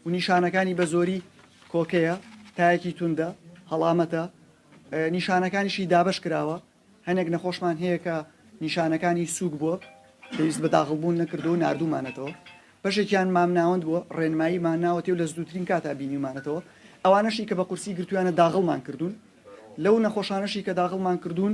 و نیشانەکانی بە زۆری کۆکەیە، تایەکی توندە، هەڵامەتە، نیشانەکانیشی دابەش کراوە، هەنێک نەخۆشمان هەیە کە نیشانەکانی سووک بووە پێویست بە داخڵ بوون نەکردووە و ناردوومانەتەوە، بەشێکیان مامناوەند بووە ڕێنماییمان ناوەتێ و لە زدووترین کاتا بینیومانەتەوە، ئەوانەشی کە بە قورسی گرتوویانە داغڵمان کردوون، لەو نەخۆشانەشی کە داغڵمان کردوون،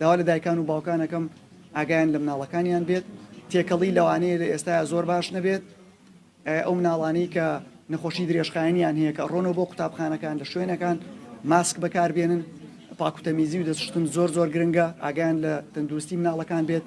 داوا لە دایکان و باوکان ئەکەم ئاگایان لە مناڵەکانیان بێت تێکەڵی لەوانەیە لە ئێستایا زۆر باش نەبێت ئەو مناڵانی کە نەخۆشی درێژخایەنیان هەیە کە ڕۆنەوە بۆ قوتابخانەکان لە شوێنەکان ماسک بەکاربێنن پاکوتەمیزی و دەستشتن زۆر زۆر گرنگە ئاگیان لە تەندروستی مناڵەکان بێت